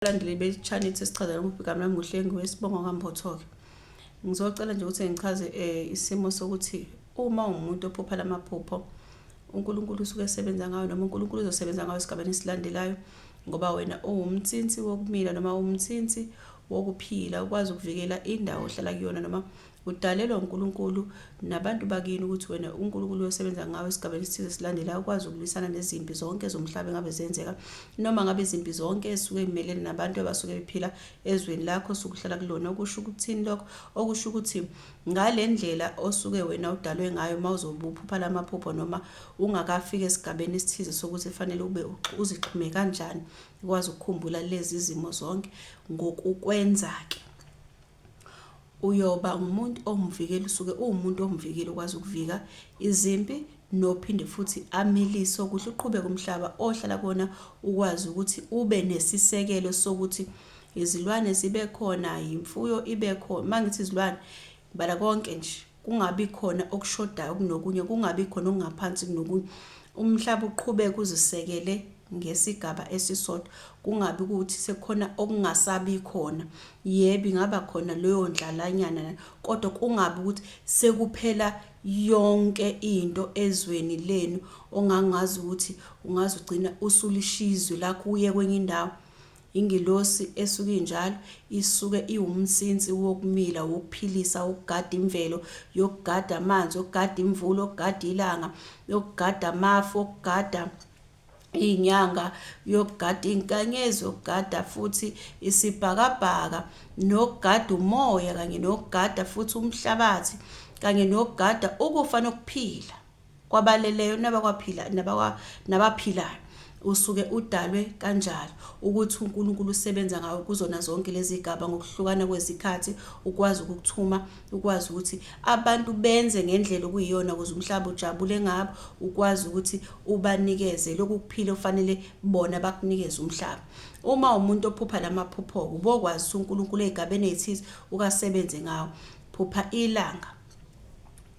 abalandeli be-Chanitse sichazela umbhikami nami nguhlengi wesibongo kaMbotho-ke ngizocela nje ukuthi ngichaze um isimo sokuthi uma ungumuntu ophupha la maphupho uNkulunkulu usuke esebenza ngayo noma uNkulunkulu uzosebenza ngayo esigabeni esilandelayo ngoba wena uwumthinsi wokumila noma uwumthinsi wokuphila ukwazi ukuvikela indawo ohlala kuyona noma Udalelwa uNkulunkulu nabantu bakini ukuthi wena uNkulunkulu uyosebenza ngawe esigabeni esithize silandelayo ukwazi ukulwisana nezimpi zonke zomhlaba engabe zenzeka noma ngabe izimpi zonke ezisuke imelene nabantu abasuke bephila ezweni lakho sukuhlala kulona okusho ukuthini lokho okusho ukuthi ngale ndlela osuke wena udalwe ngayo uma uzobuphupha lamaphupho noma ungakafiki esigabeni esithize sokuthi fanele ube uzixhume kanjani ukwazi ukukhumbula lezi zimo zonke ngokukwenza ke uyoba ngumuntu owumvikeli usuke uwumuntu owumvikeli okwazi ukuvika izimpi nophinde futhi amilise ukuthi uqhubeke umhlaba ohlala kona ukwazi ukuthi ube nesisekelo sokuthi izilwane zibe khona, yimfuyo ibe khona. Uma ngithi izilwane, ngibala konke nje. kungabi khona okushodayo kunokunye, kungabi khona okungaphansi kunokunye, umhlaba uqhubeke uzisekele ngesigaba esisodwa, kungabi kuwukuthi sekukhona okungasabi khona. Yebo, ingaba khona leyo ndlalanyana lana, kodwa kungabi ukuthi sekuphela yonke into ezweni lenu ongangazi ukuthi ungaze ugcine usulishiya izwe lakho uye kwenye indawo. Ingilosi esuke injalo isuke iwumnsinsi wokumila, wokuphilisa, wokugada imvelo, yokugada amanzi, yokugada imvula, yokugada ilanga, yokugada amafu, yokugada izinyanga, yokugada izinkanyezi, yokugada futhi isibhakabhaka, nokugada umoya kanye nokugada futhi umhlabathi, kanye nokugada ukufa nokuphila. Kwabaleleyo nabakwaphila nabakwa nabaphilayo usuke udalwe kanjalo ukuthi uNkulunkulu usebenza ngawe kuzona zonke lezigaba ngokuhlukana kwezikhathi ukwazi ukukuthuma ukwazi ukuthi abantu benze ngendlela okuyiyona ukuze umhlaba ujabule ngabo ukwazi ukuthi ubanikeze lokhu kuphila ofanele bona bakunikeze umhlaba uma umuntu ophupha lamaphupho ubokwazi uNkulunkulu ezigabeni ezithize ukasebenze ngawo phupha ilanga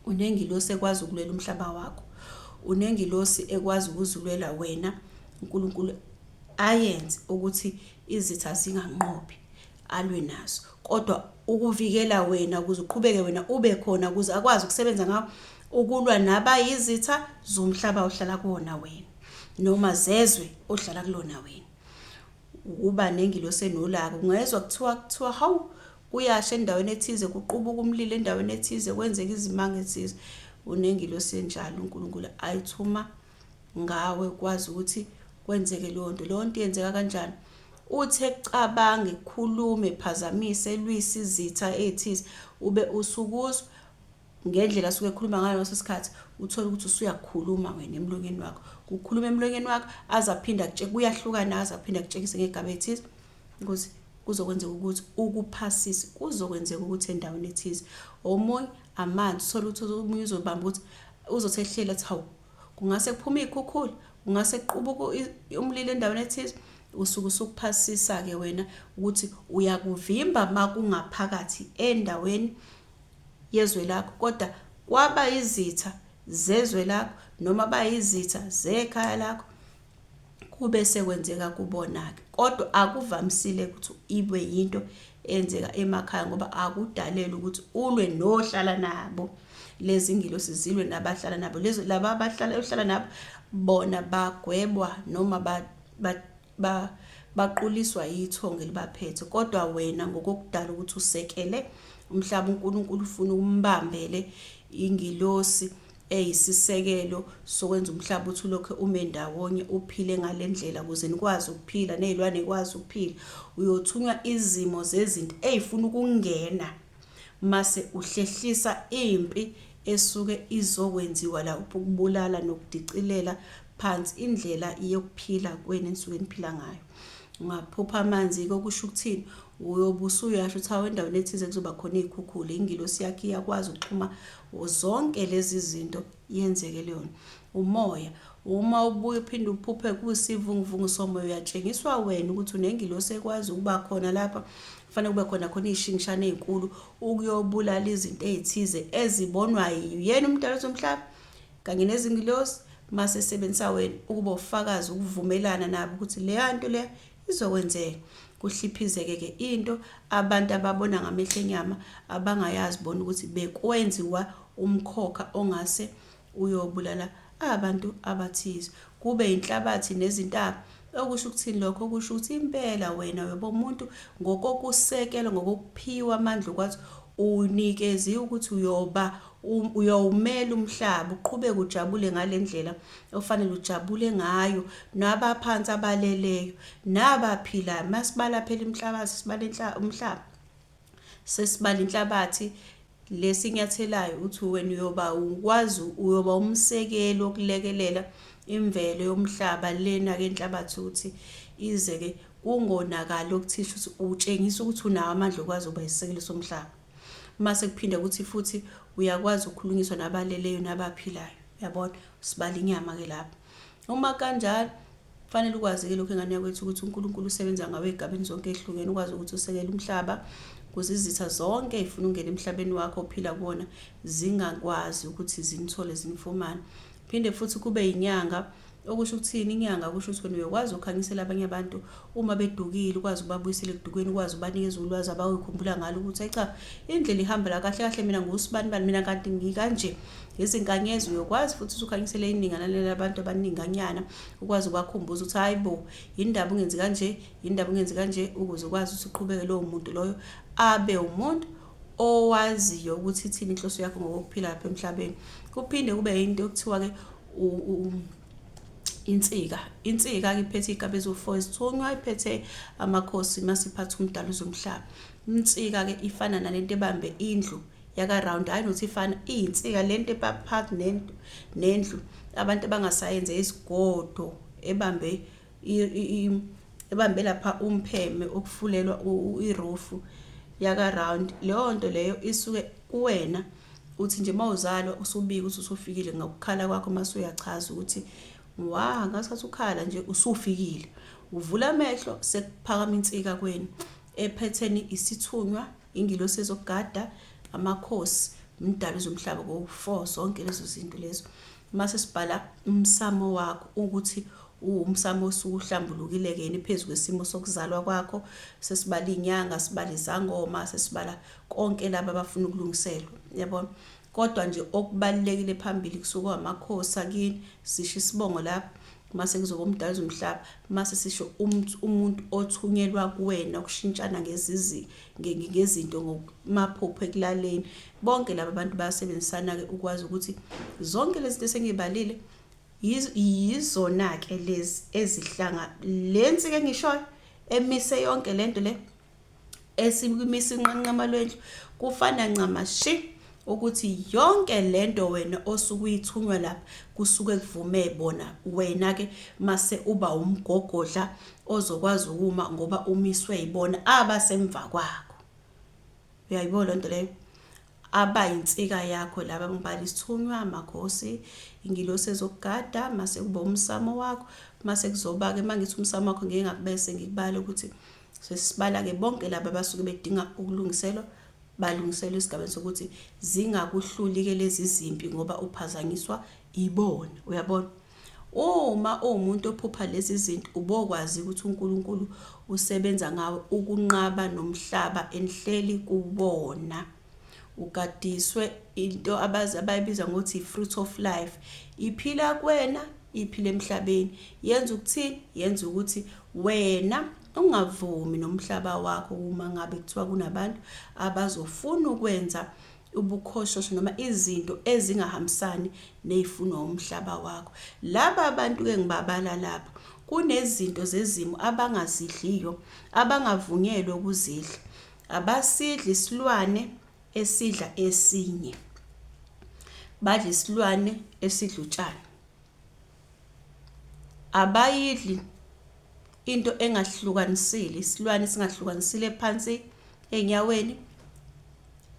Unengilosi ekwazi ukulwela umhlaba wakho. Unengilosi ekwazi ukuzilwela wena. UNkulunkulu ayenze ukuthi izitha zinganqobi alwe nazo kodwa ukuvikela wena ukuze uqhubeke wena ube khona ukuze akwazi ukusebenza ngawo ukulwa nabayizitha zomhlaba ohlala kuwona wena noma zezwe ohlala kulona wena ukuba nengilosi enolaka ungezwa kuthiwa kuthiwa hawu Kuyasha endaweni ethize, kuqubuka umlilo endaweni ethize, kwenzeka izimanga ethize. Unengilosi enjalo uNkulunkulu ayithuma ngawe ukwazi ukuthi kwenzeke leyo nto. Leyo nto yenzeka kanjani? Uthi ekucabanga, ekukhulume, ephazamise, elwise izitha ethize, ube usukuzwa ngendlela asuke ekhuluma ngayo ngaleso sikhathi uthole ukuthi usuyakhuluma wena emlonyeni wakho kukhuluma emlonyeni wakho aze aphinde akutsheke kuyahlukana aze aphinde akutshekise ngegaba ethize ukuthi kuzokwenzeka ukuthi ukuphasise kuzokwenzeka ukuthi endaweni ethize omunye amanzi uthole ukuthi omunye uzobamba ukuthi uzothi ehlela athi hawu kungase kuphume iy'khukhula kungase kuqubuke umlilo endaweni ethize usuke usukuphasisa-ke wena ukuthi uyakuvimba uma kungaphakathi endaweni yezwe lakho kodwa kwaba izitha zezwe lakho noma bayizitha zekhaya lakho kube sekwenzeka kubona-ke kodwa akuvamisile ukuthi ibe yinto eyenzeka emakhaya ngoba akudalele ukuthi ulwe nohlala nabo lezi ngilosi zilwe nabahlala nabo laba abahlala ohlala nabo bona bagwebwa noma ba baquliswa yithongo elibaphethe kodwa wena ngokokudala ukuthi usekele umhlaba uNkulunkulu ufuna ukumbambele ingilosi eyisisekelo sokwenza umhlaba ukuthi ulokhu ume ndawonye uphile ngale ndlela ukuze nikwazi ukuphila nezilwane ikwazi ukuphila uyothunywa izimo zezinto ezifuna ukungena Mase uhlehlisa impi esuke izokwenziwa la ukubulala nokudicilela phansi indlela yokuphila kwenu enisuke niphila ngayo. Ungaphupha amanzi-ke okusho ukuthini? Uyobe usuyasho ukuthi hawu endaweni ethize kuzoba khona iy'khukhula, ingilosi yakhe iyakwazi ukuxhuma zonke lezi zinto yenzeke leyona. Umoya, uma ubuye uphinde uphuphe kusivunguvungu somoya uyatshengiswa wena ukuthi unengilosi ekwazi ukuba khona lapha, Kufanele kube khona khona iy'shingishane ey'nkulu ukuyobulala izinto ey'thize ezibonwa yena umdala zomhlaba kanye nezingilosi mase sebenzisa wena ukuba ufakazi ukuvumelana nabo ukuthi leya nto leya izokwenzeka kuhliphizeke-ke into abantu ababona ngamehlo enyama abangayazi bona ukuthi bekwenziwa umkhokha ongase Uyobulala abantu abathize, kube inhlabathi nezintaba. Okusho ukuthini lokho? Kusho ukuthi impela wena uyobomuntu ngokokusekelwa, ngokokuphiwa amandla okwathi unikeziwe ukuthi uyoba uyowumela umhlaba uqhubeke ujabule ngale ndlela ofanele ujabule ngayo nabaphansi abaleleyo nabaphilayo masibala phela inhlabathi sibala umhlaba Sesibala inhlabathi lesi inyathelayo uthi wena uyoba ukwazi uyoba umsekeli wokulekelela imvelo yomhlaba lena-ke inhlabathi ukuthi ize-ke kungonakali okuthisha ukuthi utshengisa ukuthi unawo amandla okwazi ukuba isisekelo somhlaba mase kuphinde ukuthi futhi uyakwazi ukukhulunyiswa nabaleleyo nabaphilayo yabona sibala inyama-ke lapho Uma kanjalo, kufanele ukwazi-ke lokhu engane yakwethu ukuthi uNkulunkulu usebenza ngawe ey'gabeni zonke ey'hlukene, ukwazi ukuthi usekele umhlaba kuze izitha zonke ey'funa ukungena emhlabeni wakho ophila kuwona zingakwazi ukuthi zinithole zinifumane. Phinde futhi kube yinyanga okusho ukuthini inyanga kusho ukuthi wena uyokwazi ukukhanyisela abanye abantu Uma bedukile ukwazi ukubabuyisela ekudukeni, ukwazi ukubanikeza ulwazi abawikhumbula ngalo ukuthi ayi cha indlela ihamba la kahle kahle mina ngusibani bani mina kanti ngikanje. Izinkanyezi uyokwazi futhi usukhanyisele iningana labantu abaninganyana ukwazi ukubakhumbuza ukuthi hayi bo yindaba ungenzi kanje, yindaba ungenzi kanje ukuze ukwazi ukuthi uqhubeke lowo muntu loyo abe umuntu owaziyo ukuthi ithini inhloso yakho ngokuphila lapha emhlabeni. Kuphinde kube into okuthiwa ke insika insika-ke iphethe iy'gaba eziwu-four ezithunywa iphethe amakhosi masiphatha umdala uzomhlaba insika-ke ifana nale nto ebambe indlu yakaround hhayi nokuthi ifana iyinsika le nto ebaphakathi nendlu abantu abangasayenze izigodo ebambe ebambe lapha umpheme ukufulelwa irufu yaka round leyo nto leyo isuke kuwena uthi nje mawuzalwa usubika ukuthi usufikile ngokukhala kwakho mase uyachaza ukuthi wa ngasikhathi ukhala nje usufikile uvula amehlo sekuphakama insika kweni ephetheni isithunywa Ingilosi ezokugada, amakhosi, umdali zomhlaba kowu four zonke lezo zinto lezo. Uma sesibhala umsamo wakho ukuthi uwumsamo osuhlambulukile-ke yini phezu kwesimo sokuzalwa kwakho, sesibala iy'nyanga, sibala izangoma, sesibala konke laba abafuna ukulungiselwa, yabona. Kodwa nje okubalulekile phambili kusuke amakhosi akini, sisho isibongo lapho, Mase kuzoba umdali zomhlaba, mase sisho umt umuntu othunyelwa kuwena ukushintshana ngezizi nge- nge- ngezinto ngomaphupho ekulaleni. Bonke laba bantu bayasebenzisana-ke ukwazi ukuthi zonke lezi zinto esengibalile yiz- yizona-ke lezi ezihlanga le nsika engishoyo emise yonke le nto le esikumisa inqanqema lwendlu kufana ncamashi ukuthi yonke lento wena osuke uyithunywa lapha kusuke kuvume bona wena ke mase uba umgogodla ozokwazi ukuma ngoba umiswe yibona abasemva kwakho uyayibona lento leyo abayinsika yakho laba ngibala isithunywa amakhosi ingilosi ezokugada mase kuba umsamo wakho mase kuzoba ke mangithi umsamo wakho ngeke ngakubese ngikubale ukuthi Sesibala-ke bonke laba abasuke bedinga ukulungiselwa, balungiselwa esigabeni sokuthi zingakuhluli-ke lezi zimpi ngoba uphazanyiswa ibona. Uyabona? Uma uwumuntu ophupha lezi zinto, ubokwazi ukuthi uNkulunkulu usebenza ngawe ukunqaba nomhlaba enihleli kuwona. Ugadiswe into abazi abayibiza ngokuthi i-fruit of life. Iphila kuwena, iphila emhlabeni. Yenza ukuthini? Yenza ukuthi wena ungavumi nomhlaba wakho uma ngabe kuthiwa kunabantu abazofuna ukwenza ubukhoshosho noma izinto ezingahambisani ney'funo umhlaba wakho. Laba abantu-ke ngibabala lapha kunezinto zezimo abangazidliyo, abangavunyelwe ukuzidla. Abasidli isilwane esidla esinye. Badla isilwane esidla utshani. Abayidli into engahlukanisile, isilwane singahlukanisile phansi ey'nyaweni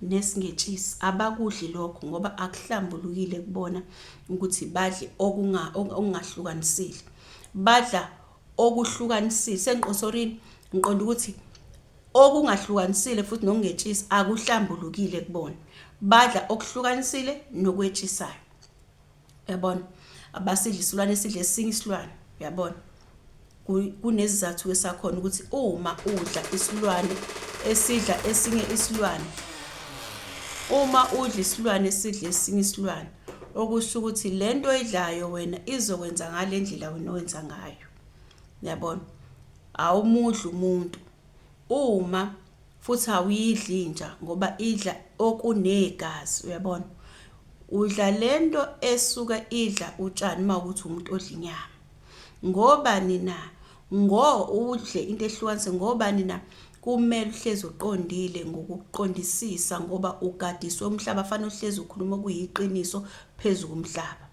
nesingetshisi. Abakudli lokho ngoba akuhlambulukile kubona ukuthi badle okungahlukanisile. Badla okuhlukanisile, sengiqosorini? Ngiqonda ukuthi Okungahlukanisile futhi nokungetshisi akuhlambulukile kubona. Badla okuhlukanisile nokwetshisayo. Uyabona? Abasidli isilwane esidle esinye isilwane. Uyabona? Kunezizathu-ke sakhona ukuthi uma udla isilwane esidla esinye isilwane uma udla isilwane esidla esinye isilwane okusho ukuthi lento oyidlayo wena izokwenza ngalendlela wena owenza ngayo Yabona? Awumudli umuntu. Uma futhi awuyidli inja ngoba idla okunegazi, uyabona? Udla lento esuka idla utshani uma ukuthi umuntu odla inyama. Ngobani na? Ngo udle into ehlukanise ngobani na? Kumele uhlezi uqondile ngokuqondisisa ngoba ugadiswe umhlaba, fanele uhlezi ukhuluma okuyiqiniso phezu komhlaba.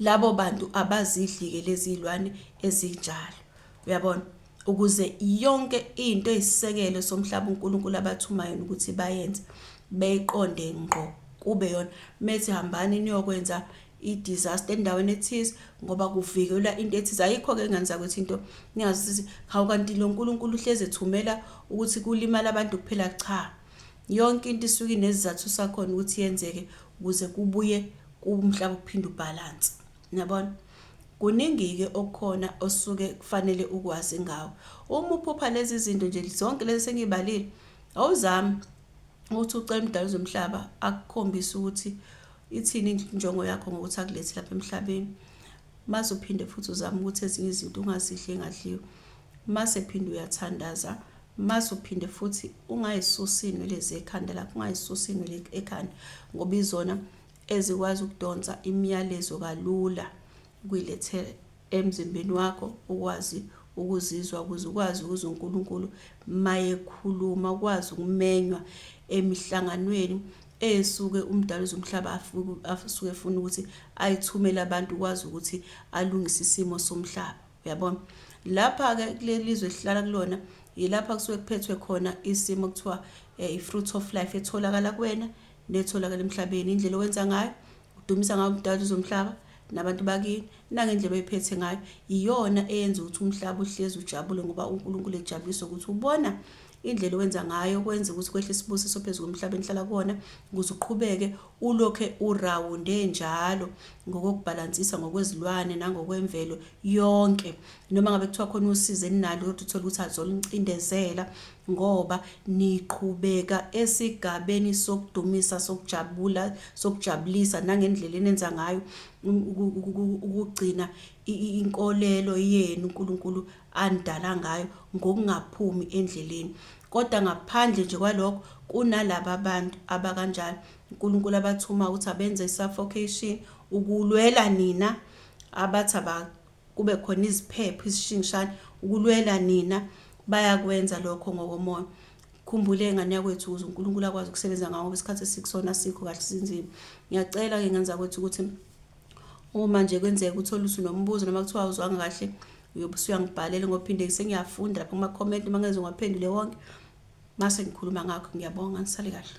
labo bantu abazidlike lezi lwane ezinjalo uyabona ukuze yonke into eyisisekelo somhlaba uNkulunkulu abathuma yona ukuthi bayenze beyiqonde ngqo kube yona methi hambani niyokwenza i-disaster endaweni ethize ngoba kuvikelwa into ethize ayikho-ke ngani zakwethu into ningazi ukuthi hawu kanti lo nkulunkulu uhlezi ethumela ukuthi kulimale abantu kuphela cha Yonke into isuke inesizathu sakhona ukuthi yenzeke ukuze kubuye kumhlaba ukuphinde ubhalanse. Niyabona? Kuningi-ke okukhona osuke kufanele ukwazi ngawo. Uma uphupha lezi zinto nje zonke lezi sengiyibalile, awuzami ukuthi ucela umdala zomhlaba akukhombise ukuthi ithini injongo yakho ngokuthi akulethi lapha emhlabeni. Mase uphinde futhi uzama ukuthi ezinye izinto ungazidli engadliwa. Mase phinde uyathandaza Mase uphinde futhi ungayisusi inwele zekhanda lapho, ungayisusi inwele ekhanda ngoba izona ezikwazi ukudonsa imiyalezo kalula ukuyilethela emzimbeni wakho ukwazi ukuzizwa ukuze ukwazi ukuzwa uNkulunkulu mayekhuluma, ukwazi ukumenywa emihlanganweni esuke umdala uzomhlaba asuke efuna ukuthi ayithumele abantu ukwazi ukuthi alungise isimo somhlaba. Uyabona? Lapha-ke kuleli zwe esihlala kulona yilapha kusuke kuphethwe khona isimo kuthiwa eh, i-fruit of life etholakala kuwena netholakala emhlabeni indlela owenza ngayo udumisa ngayo umdali uzomhlaba nabantu bakini nangendlela oyiphethe ngayo iyona eyenza ukuthi umhlaba uhlezi ujabule ngoba uNkulunkulu ejabulisa ukuthi ubona indlela owenza ngayo kwenza ukuthi kwehle isibusiso phezu komhlaba enihlala kuwona ukuze uqhubeke Ulokhe urawunde njalo ngokokubhalansisa ngokwezilwane nangokwemvelo yonke. Noma ngabe kuthiwa khona usizi eninalo kodwa uthole ukuthi azoluncindezela ngoba niqhubeka esigabeni sokudumisa, sokujabula, sokujabulisa nangendlela enenza ngayo ukugcina inkolelo yenu uNkulunkulu andala ngayo ngokungaphumi endleleni. Kodwa ngaphandle nje kwalokho, kunalaba bantu abakanjalo uNkulunkulu abathuma ukuthi abenze i-suffocation ukulwela nina, abathi aba kube khona iziphepho izishingishane ukulwela nina, bayakwenza lokho ngokomoya. Khumbule ngane yakwethu ukuze uNkulunkulu akwazi ukusebenza ngawo ngoba isikhathi esikusona asikho kahle sinzima. Ngiyacela-ke ngane zakwethu ukuthi Uma nje kwenzeka uthole ukuthi unombuzo noma kuthiwa awuzwanga kahle uyobe usuyangibhalela ngoba phinde sengiyafunda lapha kuma-comment uma ngeze ngiwaphendule wonke mase ngikhuluma ngakho ngiyabonga ngisale kahle